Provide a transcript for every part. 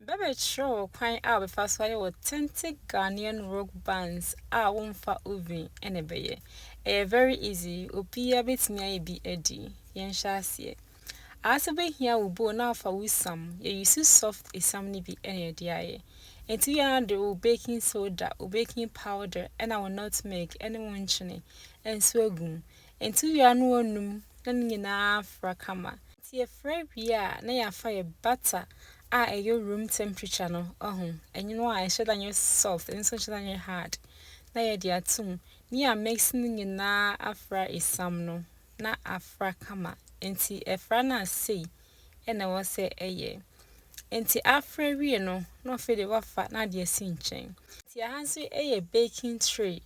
Bɛbɛkyerɛ wo kwan a wobɛfa so ayɛ authentic Ghanaian rock bands a womfa oven na ɛbɛyɛ. Ɛyɛ very easy, obiara bɛtumi ayɛ bi adi. Yɛnhyɛ aseɛ. Aase wobɛhia wo bowl na afa wo sam, yɛ use soft esiam no bi na yɛde ayɛ. Nti woyɛ na wode wo baking soda, wo baking powder na wo nutmeg ne wo nkyene nso agu mu. Enti wia no onum na ne nyinaa afra kama. Enti yɛfra wia a na yɛafa yɛ bata a ɛyɔ room temperature no, wahu, ɛnwono a ɛnhyɛ da nyɛ soft ɛno nso nhyɛ da nyɛ hard na yɛde ato mu na yɛamix ne nyinaa afra esiam no na afra kama. Enti ɛfra no a sei na ɛwɔ sɛ ɛyɛ. Enti afra wie no na afei de wafa na ade asi nkyɛn. Enti ɛha nso yɛ baking tray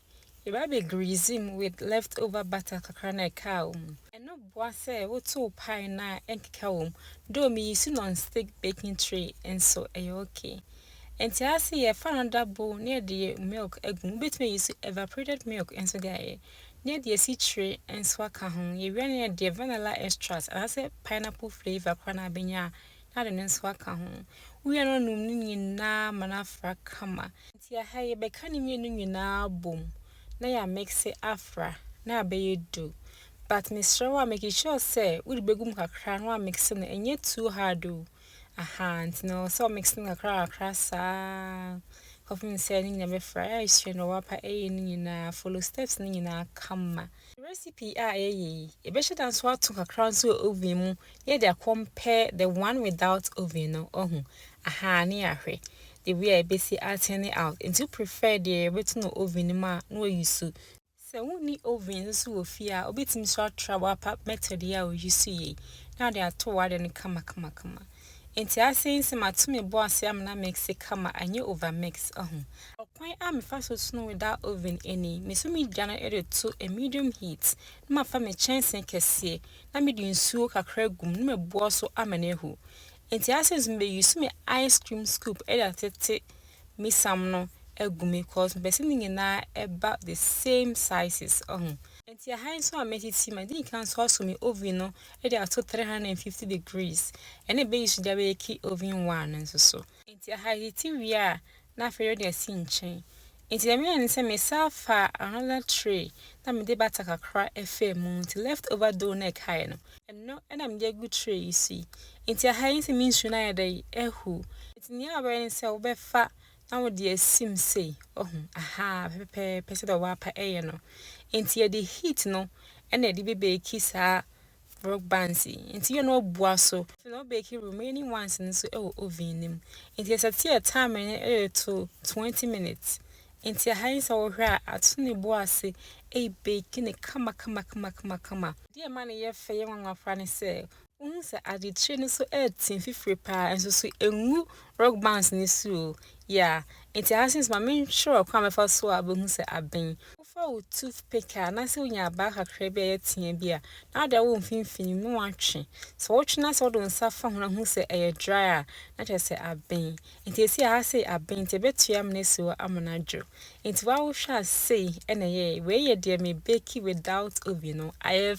Yɛbɛbɛ grease mu with left over butter kakra na ɛkaa wɔ mu. Ɛno boa sɛ wotow pie no a ɛnkeka wɔ mu, though me use non stick baking tray nso ɛyɛ ok. Ntease sɛ yɛfa another bowl na yɛde yɛ milk agu mu, wobɛtumi a use evaporated milk nso de ayɛ, na yɛde asikyire nso aka ho, yɛwie a na yɛde vanilla extract anaasɛ pineapple flavour koraa na abɛnya a na ade no nso aka ho, wowie a na woanum ne nyinaa ma no afra kama. Tsia ha yi, yɛbɛka ne mmienu nyinaa abom na yɛ a mixe afra na abɛyɛ du. But mesrɛ wo a make sure sɛ wode bɛgu mu kakra na wa mixe no, ɛnyɛ too hard o. Ahaa, nti no ɛwɔ sɛ wo mixe no kakra kakra saa kɔpem sɛ ne nyinaa bɛfra. Yɛ a yɛsua no wɔ w'apa ɛyɛ no nyinaa, follow steps no nyinaa kama. Recipe a yɛyɛ yi, yɛbɛhyɛ da nso ato kakra nso wɔ oven mu na yɛde akɔmpare the one without oven no, wahu? Ahaa, na yɛahwɛ. the way a ebesi a turn out nti wo prefer deɛ yɛbɛto no oven no mu a na wa use. Sɛ wo nni oven nso wɔ fie a wobɛtumi nso atra wo apa method yi a o use yei na wode ato w'ade no kama kama kama nti asɛ yi sɛ mato me bo ase ama no amixi kama anyɛ over mix ahu. Ɔkwan a mefa so tono without oven ni, me so me gya no de to a medium heat na mafa me kyɛnsee kɛseɛ na me de nsuo kakra agu mu na mabua so ama no ahu Enti ase nso me use me ice cream scoop de atete me sam no agu me cause me pɛ sɛ ne nyinaa ɛba the same sizes ɔho. Enti ɛha nso a mɛtete ma dii kan nso asɔ me oven no de ato three hundred and fifty degrees ɛna me use de abɛke oven one no nso so. Enti ɛha ɛtete wie a na afei yɛde asi nkyɛn Ntsi dɛm yɛɛ nye sɛ mesaa faa another tray na mede bata kakra faa mu ntsi left over dough na ɛkae no, ɛno na mede agu tray yi so yi. Ntsi ha yi nse me nsu no ayɛ dɛ ahuw. Ntsi nea wobɛyɛ ne sɛ wobɛfa na wode asim sei, wahu, ahaa, pɛpɛpɛpɛ sɛdeɛ wɔapa yɛ no. Ntsi yɛde heat no na yɛde bɛbake saa Brooke Bansi, nti yɛ na ɔbua so. Afei na ɔbake remaining ones no so wɔ oven no mu. Nti yɛsɛte yɛ time no yɛ to twenty minutes. Nti aha yi sɛ wohwɛ a ato ne bo ase ɛrebake no kama kama kama kama kama. Deɛ ɛma no yɛ fɛ yɛ nwanwa koraa ne sɛ wohu sɛ ade tire no so ɛretim fifire paa nso so ɛngu rock bands no so o. Yeah, nti aha since ma mentwerɛ ɔkwan a mɛfa so a bɛhu sɛ aben. Fa wo toothpick a anaasɛ wonya abaa kakra bi a ɛyɛ teaa bi a, na wode awɔ wo mfimfini mu na woatwe. Sɛ wotwe na sɛ wode wo nsa fa ho na hu sɛ ɛyɛ dry a, na kyerɛ sɛ aben. Enti esi a ha sei aben nti ɛbɛtua amena asi hɔ ama no adwo. Enti woa wohwɛ a sei na ɛyɛe. Wei yɛ deɛ me bake without oven no. Ayɛ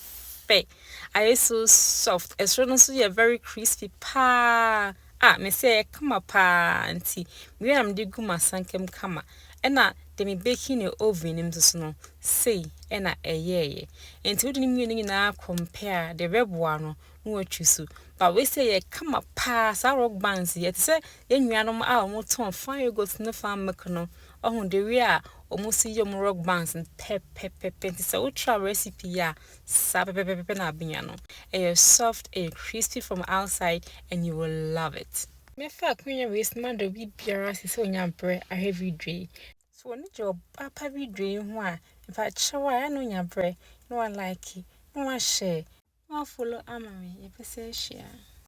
fɛ. Ayɛ so soft. Ɛsoro no nso yɛ very crispy paa. a mese ɛyɛ kama paa nti mewie na mede gu masanka mu kama ɛna de me baking ne oven no mu nso no sei ɛna ɛyɛɛyɛ nti wode ne mmienu nyinaa compare a de bɛboa no na watwi so ba wei sɛ ɛyɛ kama paa saa rock bands yi ɛte sɛ yɛn nuanom a wɔn tɔn fan yogurt ne fan milk no ɔho de wie a wɔn nso yɛ wɔn rock bands no pɛpɛpɛpɛ nti sɛ wotra recipe yi a Saa pɛpɛpɛpɛ na abenya no. Ɛyɛ soft, ɛyɛ crispy from outside and you will love it. Mɛfa akonnwa wei so na mada obi biara ase sɛ ɔnya mprɛ ahwɛ video yi. So w'ani gye ɔbaa pa video yi ho a, mfa kyerɛ wo a ɛyɛ a na onya berɛ na wa like, na wa share. Na wa follow ama me, yɛpɛ sɛ yɛhyia.